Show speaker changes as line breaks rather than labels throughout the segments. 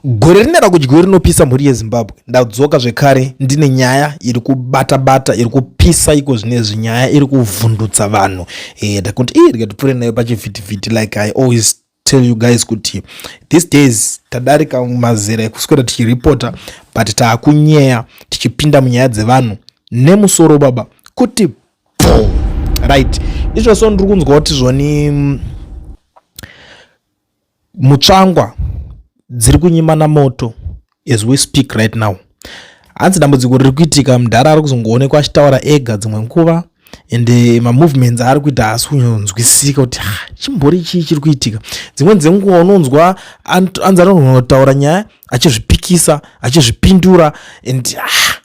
Gore rine rakudyiwe rinopisa mhuri yezimbabwe ndadzoka zvekare ndine nyaya iri kubata bata iri kupisa iko zvine zvinyaya iri kuvhundutsa vanhu e, ndakuti ii rikatipfuure nayo pachivhitivhiti like i always tell you guys kuti these days tadarika mazera ekuswera tichiripota but taakunyeya tichipinda munyaya dzevanhu nemusoro baba kuti po right izvo so ndiri kunzwa kuti zvoni mm, mutsvangwa dziri kunyimana moto as we speak right now hanzi dambudziko riri kuitika mudhara ari kuzongoonekwa achitaura ega dzimwe nguva and eh, mamovements aari kuita haasi kunyonzwisika kuti chimbori chii chiri kuitika dzimweni dzenguva unonzwa anzi anotaura nyaya achizvipikisa achizvipindura and ah,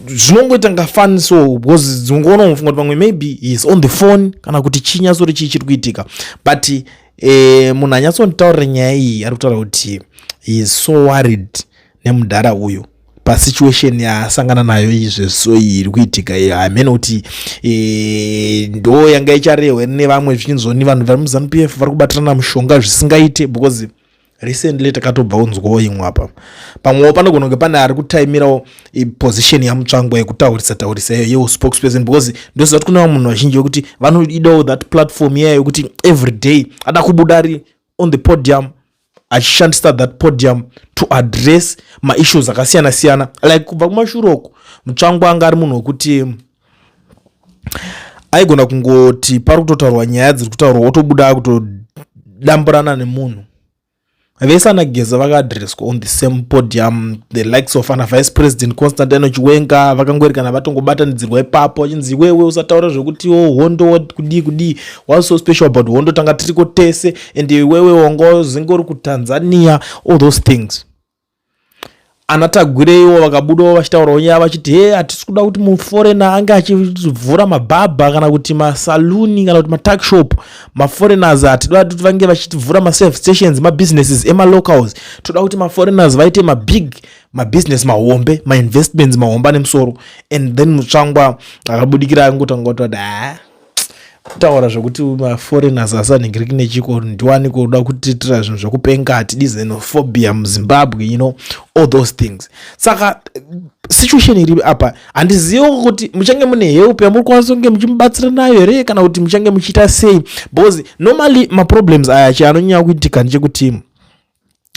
zvinongoita nga fun so because dzinongoona unofunga kuti pamwe maybe heis on the phone kana kuti chii nyasori chii chiri kuitika but eh, munhu anyatsonditaurira nyaya iyi ari kutaura kuti heis so worried nemudhara uyu pasituation yaasangana nayo izve so iyi iri kuitika iyo hamene kuti eh, ndo yanga icharehwe nevamwe zvichinzoni vanhu vari muzanup f vari kubatirana mushonga zvisingaite because recently takatobva unzwawo imwe apa pamwewo panogona kunge pane ari kutaimirawo position yamutsvangwa yekutaurisa taurisa iyo yeo spokesperson because ndoziva kuti kune vamwe munhu vazhinji vekuti vanoidawo that platform iyayo yekuti every day ada kubuda ari on the podium achishandisa that podium to address maissues akasiyana siyana like kubva kumashure uku mutsvangwa anga ari munhu wekuti aigona kungoti pari kutotaurwa nyaya dziri kutaurwa wotobuda kutodamburana nemunhu vese anageza vakaadresswa on the same podium the likes of ana vice president constantino chiwenga vakangoerekana vatongobatanidzirwa ipapo vachinzi iwewe usataura zvekuti o oh, hondo kudii kudii was so special about hondo tanga tiriko tese and iwewe wanga zingori kutanzania all those things ana tagureiwo vakabudawo vachitaurawo nyaya vachiti he hatisi kuda kuti muforena ange achivhura mabhabha kana kuti masaluni kana kuti matuckshop maforeigners hatida kuti vange vachivhura maserve stations mabusinesses emalocals toda kuti maforeigners vaite mabig mabusiness mahombe mainvestments mahombe ane musoro and then mutsvangwa akabudikira angotanga kutoti haa kutaura zvekuti maforeigners asanhingiriki nechiko ndiwani kuda kutiitira zvinhu zvekupenga hatidi xenophobia muzimbabwe you know all those things saka situation iri apa handizive kuti muchange mune help yamuri kwanisa kunge muchimubatsira nayo here kana kuti muchange muchiita sei because normally maproblems aya chi anonyanya kuitika ndechekuti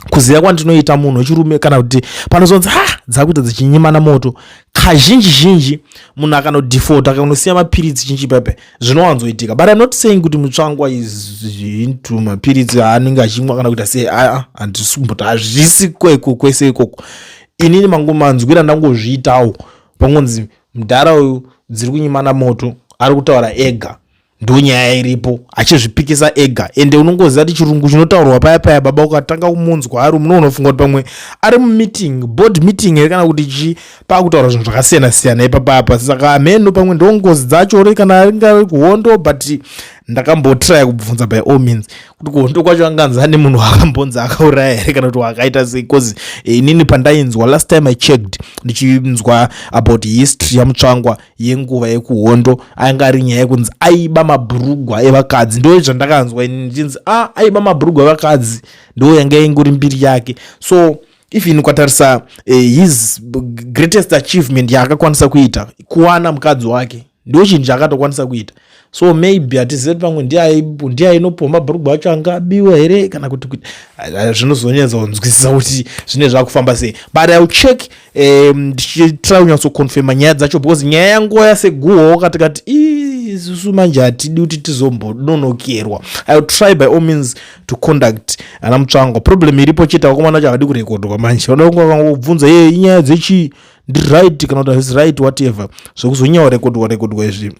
kuziva kwandinoita munhu wechirume kana kuti panozonzi ha dzakuita dzichinyimana moto kazhinji zhinji munhu akanodefota akanosiya mapiritsi chinchi pepe zvinowanzoitika but im not saying kuti mutsvangwa izinto mapiritsi aanenge achimwa kana kuita sei aa handisi kumboti hazvisi kweko kwese ikoko inini mangomanzwira ndangozviitawo pangonzi mudhara uyu dziri kunyimana moto ari kutaura ega ndonyaya iripo achizvipikisa ega ende unongoziva kuti chirungu chinotaurwa paya paya baba ukatanga kumunzwa ari muno unofunga kuti pamwe ari mumeeting board meeting here kana kuti chii paakutaura zvinhu zvakasiyana siyana ipapapa saka hameno pamwe ndo ngozi dzacho ri kana ringave kuhondo but ndakambotraya kubvunza by all means kuti kuhondo kwacho anganzi ane munhu akambonzi akauraya here kana kuti wakaita sei bcause eh, inini pandainzwa last time i checked ndichinzwa about history yamutsvangwa yenguva yekuhondo ainge ari nyaya yekunzi aiba mabhurugwa evakadzi ndo zvandakanzwa ini ndichinzi a ah, aiba mabhurugwa evakadzi ndo yanga ingori mbiri yake so even ukatarisa uh, his greatest achievement yaakakwanisa kuita kuwana mukadzi wake ndo chinhu chaakatokwanisa kuita so maybe hatizive kuti pamwe ndiye ainopiwa mabhurugwa acho anga abiwa here kana kuti kuti zvinozonyatsa kunzwisisa kuti zvine zvakufamba sei but iwill check ndichitira kunyatsoconfirma nyaya dzacho because nyaya yanguva yaseguhoo kati kati isusu manje hatidi kuti tizombononokerwa iwill try by all means to conduct ana mutsvango problem iripo chete vakomana vacho havadi kurekodwa manje vanoda kunge vakangobvunza ye inyaya dzechii ndiright kana kuti hazisi right whatever zvokuzonyaurekodwa rekodwa izvi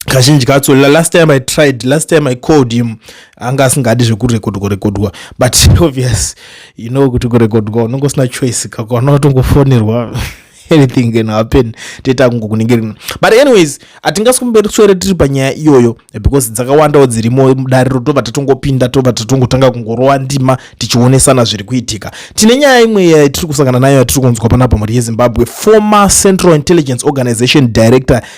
kazhinji katso last time i tried last time i called him anga asingadi zvekurekodwa rekodwa but obvious you know kuti kurekodwa unonge usina choice kakwana unotongofonerwa anything can happen toita kungokuningirina but anyways hatingasi kumberi tsvere tiri panyaya iyoyo because dzakawandawo dzirimo mudare rotobva tatongopinda tobva tatongotanga kungorova ndima tichionesana zviri kuitika tine nyaya imwe yatiri kusangana nayo yatiri kunzwa panapa mhuri yezimbabwe former central intelligence organization director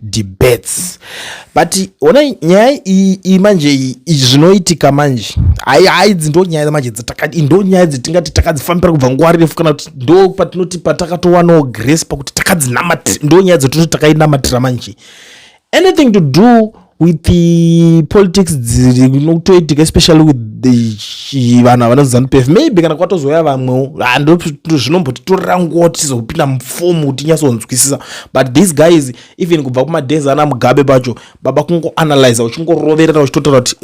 debates but ona nyaya iyi manje izvi zvinoitika manje hai hai idzi ndo nyaya manje dzatakadi ndo nyaya dzetingati takadzifambira kubva nguva refu kana kuti ndo patinoti patakatowanawo grace pakuti takadzinamatira ndo nyaya dzotinoti takainamatira manje anything to do with the politics dzinotoitika especially with vanhu havana zanupf maybe kana kwatozouya vamwewo ah, zvinombotitorera nguva tichizokupinda mufomu kuti nyatsonzwisisa but these guys even kubva kumadhezi ana mugabe pacho baba kungoanalyza uchingoroverera uchitotaura kuti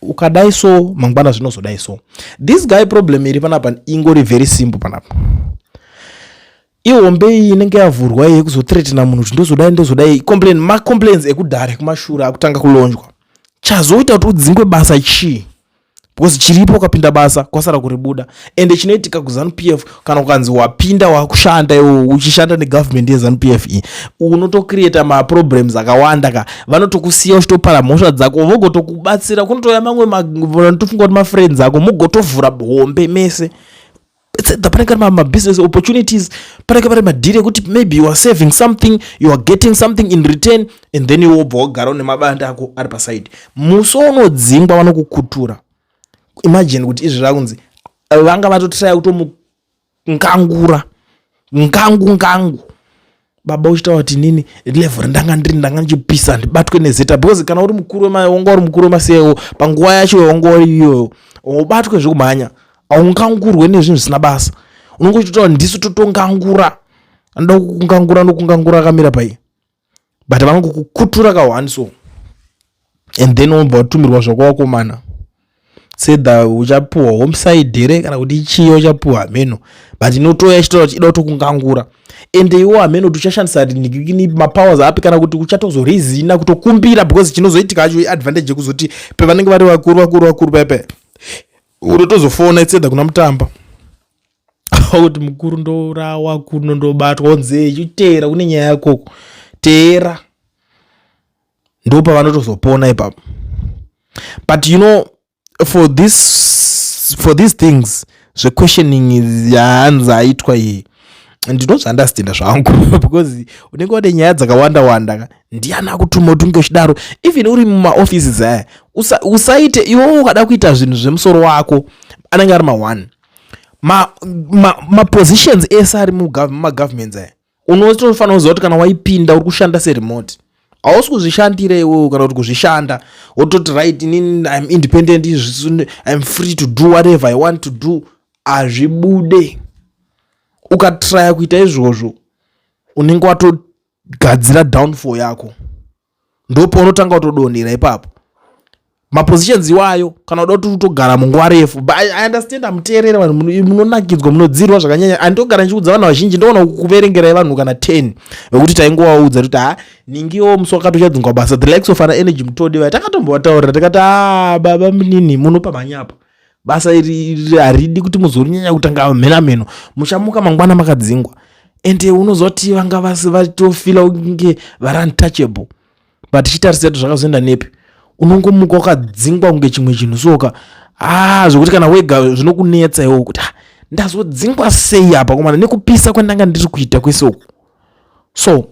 ukadai so mangwana zvinozodai so this guy problem iri panapa ingori very simple panapa ihombe iyi inenge yavhurwa iye kuzotretena munhu kuti ndozodai ndozodai complain macomplains ekudhare kumashura akutanga kulonjwa chazoita kuti udzingwe basa chii because chiripo ukapinda basa kwasara kuribuda ende chinoitika kuzanu p f kana ukanzi wapinda wakushanda iwo uchishanda negovernment yezanu p f iyi unotocreata maproblems akawanda ka vanotokusiya uchitopara mhosva dzako vogotokubatsira kunotouya mamwe vanotofunga kuti mafriends ako mogotovhura hombe mese panenge ari mabusiness opportunities panenge vari madhiri ekuti maybe youare saving something youare getting something in return and then iwobva wagara une mabanda ako ari paside musi waunodzingwa vanokukutura imagine kuti izvi zvakunzi vanga vatotiraya kutomukangura ngangu ngangu baba uchitaura kuti inini level rendanga ndiri ndanga ndichipisa ndibatwe nezeta because kana uri mukuru wemaya wanga uri mukuru wemasewo panguva yacho wanga uri iyoyo ubatwe zvekumhanya haungangurwe nezvinhu zvisina basa unenge uchitotaura ndisu totongangura anoda kukungangura nokungangura akamira pai but vanongokukutura kahwani so and then wobva watumirwa zvakwawakomana sedha uchapuhwa homeside here kana kuti chiyo uchapuhwa hameno but inotoya ichitoa chida kutokungangura ende iwo hameno kuti uchashandisa mapowers api kana kuti uchatozorezina kutokumbira because chinozoitika acho iadvantage yekuzoti pevanenge vari vakuru vakuru vakuru pepe unotozofona isedha kuna mutamba kuti mukuru ndorawa kuno ndobatwa onzei chiteera kune nyaya yakoko teera ndo pavanotozopona ipapo but you know for this for these things zvequestioning yahanzi aitwa iyi ndinozviunderstanda zvangu because unenge wade nyaya dzakawanda wanda ndiani akutuma kuti unge uchidaro even uri mumaoffices aya usaite iwewo ukada kuita zvinhu zvemusoro wako anenge ari ma-one mapositions ma, ma ese ari mumagovernments aya unotofanira kuziva kuti kana waipinda uri kushanda seremote hausi kuzvishandira iwewo kana kuti kuzvishanda wototi right inini im independent im free to do whatever i want to do hazvibude ukatraya kuita izvozvo unenge watogadzira downfall yako ndopounotanga kutodonhera ipapo mapositions iwayo kana uda kuti utogara munguva refu but i understand amuteerera vanhu munonakidzwa munodzirwa zvakanyanya andogara ndichiudza vanhu vazhinji ndoona kuverengerai vanhu kana 10 vekuti taingovaudza kuti ha ningiwo musi wakati uchadzingwa basa the likes of ana energy mutodi vaya takatombovataurira tikati a ah, baba munini munopa mhanyapa basa iri haridi kuti muzorinyanya kutanga mhenamheno muchamuka mangwana makadzingwa ende unozoti vanga vasi vatofila kunge vari untouchable but chitarisa kuti zvakazoenda nepi unongomuka wakadzingwa kunge chimwe chinhu soka haa ah, zvekuti kana wega zvinokunetsa iwo kuti ah, ndazodzingwa sei apa komana nekupisa kwandanga ndiri kuita kwese uku so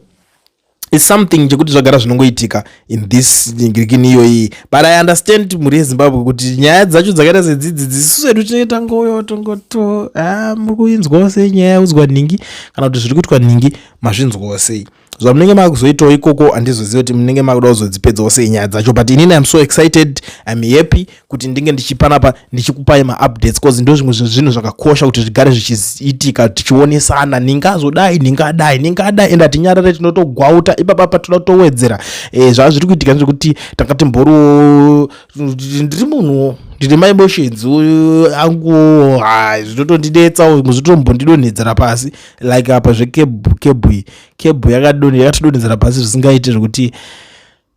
is something chekuti zvagara zvinongoitika in this ngirikini iyoyi but i understand mhuri yezimbabwe kuti nyaya dzacho dzakaita sedzidzi dzisisu edu tinenge tangoyo tongoto ah, muri kuinzwawo sei nyaya yaudzwa nhingi kana kuti zviri kuitwa nhingi mazvinzwawo sei zvamunenge makuzoitawo ikoko handizoziva kuti munenge makuda kuzodzipedzawo sei nyaya dzacho but inini im so excited im happy kuti ndinge ndichipanapa ndichikupai maupdates bcause ndo zvimwe zvezvinhu zvakakosha kuti zvigare zvichiitika tichionesana ndingazodai ndingadai ndingadai ende hatinyarare tinotogwauta ipapa patinoda kutowedzera e, zvava zviri kuitika ndezvekuti tanga timboriwo ndiri munhuwo ndine ma emotions angu zvinotondinetsa zvinotombondidonhedzera pasi like apa zvekebhu kebhu kebhu yakatidonhedzera pasi zvisingaite zvekuti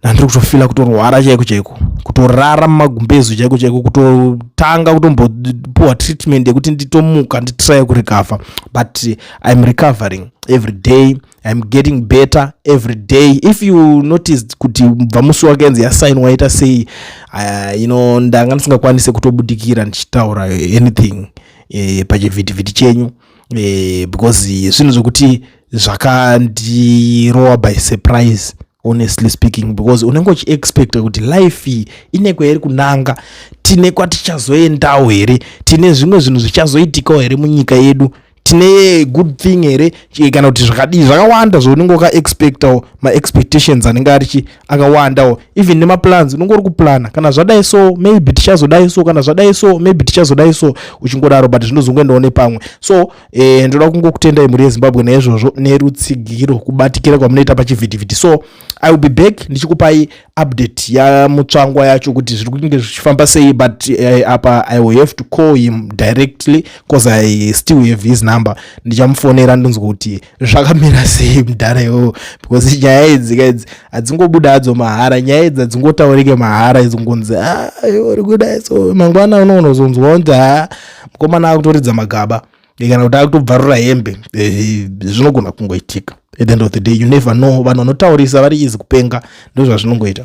nandiri kutofila kutorwara chaiko chaiko kutorara mumagumbezu chaiko chaiko kutotanga kutombopuwa treatment yekuti nditomuka nditrye kurecover but iam recovering every day iam getting better every day if you noticed kuti bva musi wakenzi yasign waita sei uh, you know ndanga ndisingakwanise kutobudikira ndichitaura anything eh, pachivhitivhiti chenyu eh, because zvinhu zvekuti zvakandirowa by surprise honestly speaking because unenge uchiexpecta kuti life iyi ine kwairi kunanga tine kwatichazoendawo here tine zvimwe zvinhu zvichazoitikawo here munyika yedu tine good thing here kana kuti zvakadii zvakawanda zvaunenge wakaexpectawo maexpectations anenge arichi akawandawo even nemaplans unenge uri kuplana kana zvadai so maybe tichazodai so kana zvadai so maybe tichazodai so uchingodaro but zvinozongoendawo nepamwe so eh, ndoda kungokutendai mhuri yezimbabwe naizvozvo nerutsigiro kubatikira kwamunoita pachivhitivhiti so i will be back ndichikupai update yamutsvangwa yacho kuti zviri kunge zvichifamba sei but eh, apa i will have to call him directly bcause i still have his number ndichamufonera ndonzwa kuti zvakamira sei mudhara iwowo because nyaya idzi ka idzi hadzingobuda hadzo mahara nyaya idzi hadzingotaurike mahara idzingonzi ah, uri kudai so mangwana unoonozonzwa kuti ha ah, mukomana akutoridza magaba kana kuti akutobvarura hembe eh, zvinogona kungoitika at the end of the day you never know vanhu vanotaurisa vari izi kupenga ndozvazvinongoita